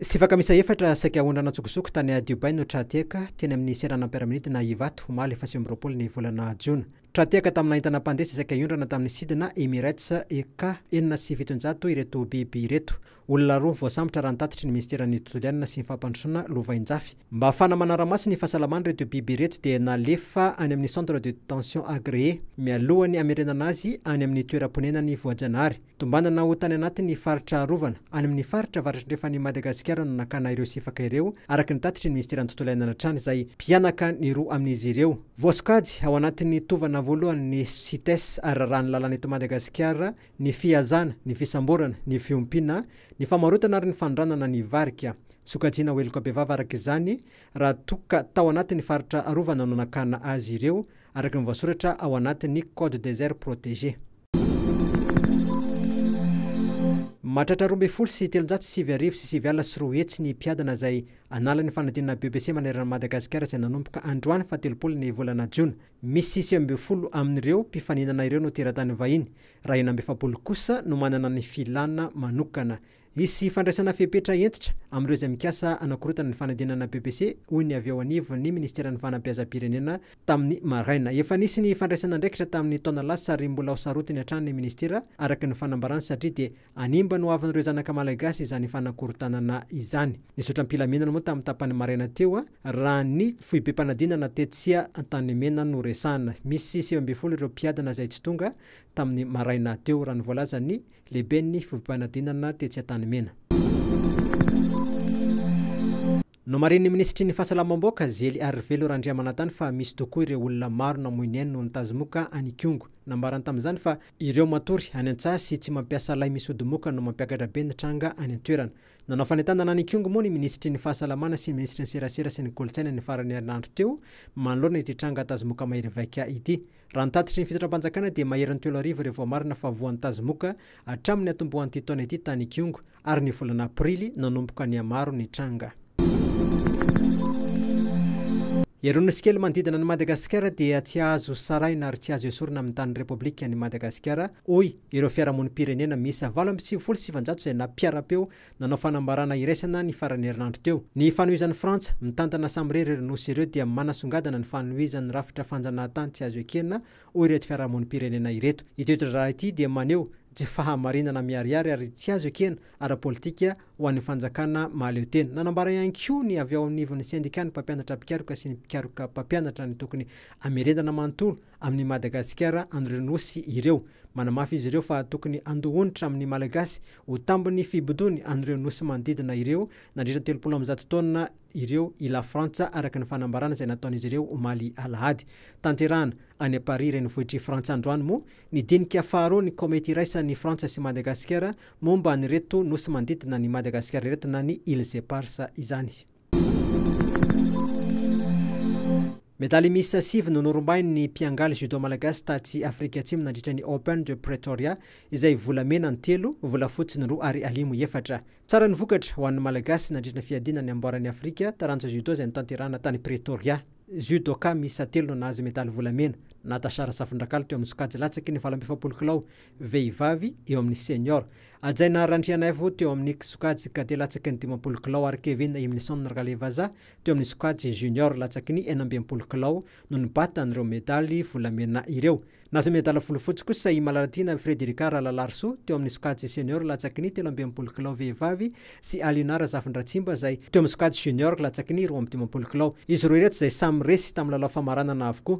Sivaka miisa efatra saika aondrana an-tsokosoko tany Dubaï no tra-tehaka, teny amin'ny seranam-piaramanidina Ivato, omaly faha sivy amby roapolo ny volana Jona. Tra-tehaka tamina entana mpandeha sy saika hiondrana tamin'ny sidina Emirates EK enina sy fitonjato ireto biby ireto. Olona roa voasambotra raha ny tatitry ny minisiteran'ny tontolo iainana sy ny fampandrosoana lovainjafy. Mba fana manara-maso ny fahasalaman'ireto biby ireto dia nalefa any amin'ny centre de detention agréé, mialohan'ny hamerenana azy any amin'ny toeram-ponenany voajanahary. Tombanana ho tany anatin'ny faritra arovana any amin'ny faritra avaratrandrefan'i Madagasikara no nakana ireo sifaka ireo, araka ny tatitry ny Minisiteran'ny Tontolo Iainana hatrany izay mpihanaka ny roa amin'izy ireo. Voasokajy ao anatin'ny tovana voalohan'ny Cites ary rarahan'ny lalàna eto Madagasikara ny fihazana, ny fisamborana, ny fiompiana, ny famarotana ary ny fanondranana ny varika. Sokajiana ho heloka bevava araka izany raha toa ka tao anatin'ny faritra arovana no nakana azy ireo, araka ny voasoratra ao anatin'ny Code des aires protégées. Mahatratra roa ambin'ny folo sy telonjato sy sivy arivo sy sivy alina sy roa hetsy ny mpiadana izay anala ny fanadinana BEPC manerana an'i Madagasikara izay nanomboka androany faha telopolo ny volana jona. Misy sivy ambin'ny folo amin'ireo mpifaninana ireo no teratany vahiny, raha enina amby efapolo kosa no manana ny filana manokana. Hisy fandraisana fepetra hentitra amin'ireo izay mikasa hanakorontana ny fanadinana BEPC, hoy ny avy eo anivon'ny minisiteran'ny fanabeazam-pirenena tamin'ny maraina. Efa nisy ny fandraisana andraikitra tamin'ny taona lasa ary mbola ho sarotiny hatrany ny minisitera, araka ny fanambarany, satria dia hanimba ny hoavin'ireo zanaka malagasy izany fanakorontanana izany. Nizotra am-pilaminana moa tamin'ny tapany maraina teo, raha ny foibem-panadinana tetsy Antanimena no resahana. Misy sivy ambin'ny folo ireo mpiadina izay tsy tonga tamin'ny maraina teo, raha ny voalazan'ny Lehiben'ny fivompanadinana tetsy Antanimena. Nomarihin'ny minisitry ny Fahasalamam-bahoaka, Zely Arivelo Randriamanantany fa misy tokoa ireo olona maro namoy ny ainy noho ny tazomoka any Ikongo. Nambarany tamin'izany fa ireo matory any an-tsaha sy tsy mampiasa lay misy odi-moka no mampiakatra be ny tranga any an-toerana. Nanao fanentanana any Ikongo moa ny minisitry ny Fahasalamana sy ny minisitry ny Serasera sy ny Kolontsaina ny faran'ny herinandro teo manoloana ity tranga tazomoka mahery vaika ity. Raha ny tatitry ny fitondram-panjakana dia maherin'ny telo arivo ireo voamarina fa voan'ny tazomoka hatramin'ny hatombohan'ity taona ity tany Ikongo ary ny volana aprily nanomboka nihamaro ny tranga. Eroa nosy kely manodidina an'i Madagasikara dia tsy azo sarahina ary tsy azo esorina amin'ny tanin'ny Repoblikan'i Madagasikara, hoy ireo fiarahamonim-pirenena miisa valo amby sivifolo sy sivinjato izay nampiara-peo Nanao fanambarana iraisana ny faran'ny herinandro teo. Ny fanohizan'i Frantsa, mitantana samirery ireo nosy ireo dia manasongadina ny fanohizan'ny rafitra fanjanahantany tsy azo ekena, hoy ireto fiarahamonim-pirenena ireto. Ity toe-draharaha ity dia maneho tsy fahamarinana miharihary ary tsy azo ekena ara-politika ho an'ny fanjakana mahaleotena. Nanambara ihany koa ny avy ao anivon'ny sendikàn'ny mpampianatra mpikaroka sy ny mpikaroka mpampianatra ny tokony hamerenana manontolo amin'i Madagasikara an'ireo nosy ireo. Manamafy izy ireo fa tokony handoa onitra amin'ny Malagasy Ho tambin'ny fibodoany an'ireo nosy manodidina ireo nandritra ny telopolo amby zato taonina ireo i Lafrantsa, araka ny fanambarana izay nataon'izy ireo omaly alahady. Tanterahana any Paris renivohitr'i Frantsa androany moa ny dinika faharoa ny Komity iraisan'i Frantsa sy Madagasikara momba an'ireto nosy manodidina an'i Madagasikara ireto na ny Îles Éparses izany. Medaly miisa sivy no norombahin' ny mpiangaly judo malagasy tatsy Afrika Atsimo nandritra ny Open de Pretoria, izay volamena ny telo, volafotsy ny roa ary alimo efatra. Tsara ny vokatra ho an' ny Malagasy nandritra ny fiadiana ny amboaran' i Afrika, taranja judo izay notanterahana tany Pretoria. Judoka miisa telo no nahazo medaly volamena, Natasha Rasafindrakalo teo amin' ny sokajy latsaky ny valo amby efapolo kilao vehivavy eo amin' ny senior, Hajaina Randrianaivo teo amin'ny sokajy cadet latsaky ny dimampolo kilao ary Kevin Imnison Ralevaza teo amin'ny sokajy junior latsaky ny enina amby enimpolo kilao no nibata an'ireo medaly volamena ireo. Nahazo medala volofotsy kosa i Malalatiana Frederica Ralalarisoa teo amin'ny sokajy senior latsaky ny telo amby enimpolo kilao vehivavy sy Alina Razafindratsimba izay teo amin'ny sokajy junior latsaky ny roa amby dimampolo kilao. Izy roa ireto izay samy resy tamin'ny lalao famaranana avokoa.